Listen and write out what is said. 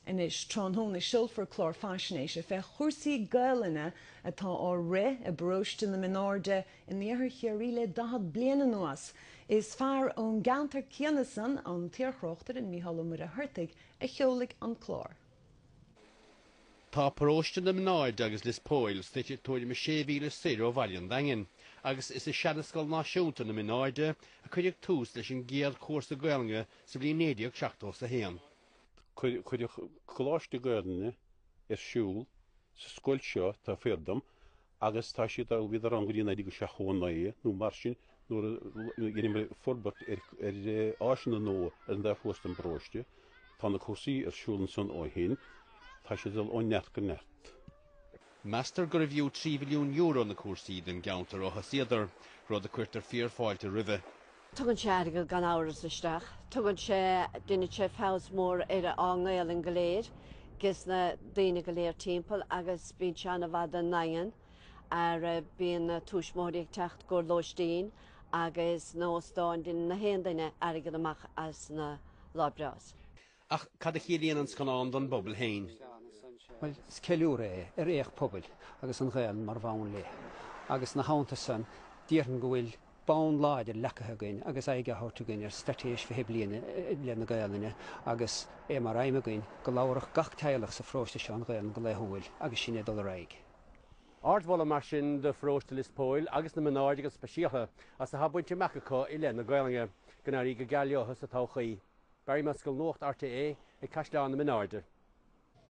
Anois tráthnóna seolfar clár faisnéise fé chúrsaí Gaelainne atá á rith i bparóiste na Minairde in iarthar Chiarraí le 40 bliain anuas. Is fear ón gceantar céanna san, an t-iarthráchtaire Micheál Ó Muircheartaigh, a sheolfaidh an clár. Tá paróiste na Minairde agus Lios Póil suite tuairim is sé mhíle soir ó bhaile an Daingin agus is i Seanascoil Náisiúnta na Minairde a cuireadh tús leis an gcéad chúrsa Gaelainne sa bhliain 1971. Cuireadh coláiste Gaelainne ar siúl sa scoil seo, tá fíor dhuit, agus tá siad á, bhíodar ann go dtí 1979 nó mar sin nuair a dheineamar forbairt ar áiseanna nua ar an dá chósta den bparóiste. Tá na cúrsaí ar siúl ansan ó shin. Tá siad ag dul ó neart go neart. Meastar gurbh fhiú €3 mhilliún na cúrsaí don gceantar ó thosaíodar, rud a cuirtear fíor-fáilte roimhe. Tugann sé airgead gan amhras isteach. Tugann sé, deineann sé feabhas mór ar ár nGaolainn go léir, ges na daoine go léir timpeall agus bíonn sé an-mhaith don nDaingean mar bíonn na tuismitheoirí ag teacht i gcomhair lóistín agus na óstáin, deineann gach aon duine airgead amach as na Lá Breás. Ach cad a chiallaíonn an scannán don bpobal féin? Bhuel, is ceiliúradh é ar éacht pobail agus an Ghaelainn mar bhonn léi. Agus ina theannta san, déarfainn go bhfuil bonn láidir leacaithe againn agus aghaidh á thabhairt againn ar Straitéis 20 Bliain i leith na Gaelainne agus é mar aidhm againn go labharfadh gach teaghlach sa pharóiste seo an Ghaelainn go laethúil agus sinn ag dul ar aghaidh. Ardmholadh mar sin do Pharóiste Lios Póil agus na Minairde go speisialtha as a bhfuil bainte amach acu i leith na Gaolainne. Go n-éirí go geal leotha sa todhchaí. Barry Mescall Nuacht RTÉ ag Caisleán na Minairde.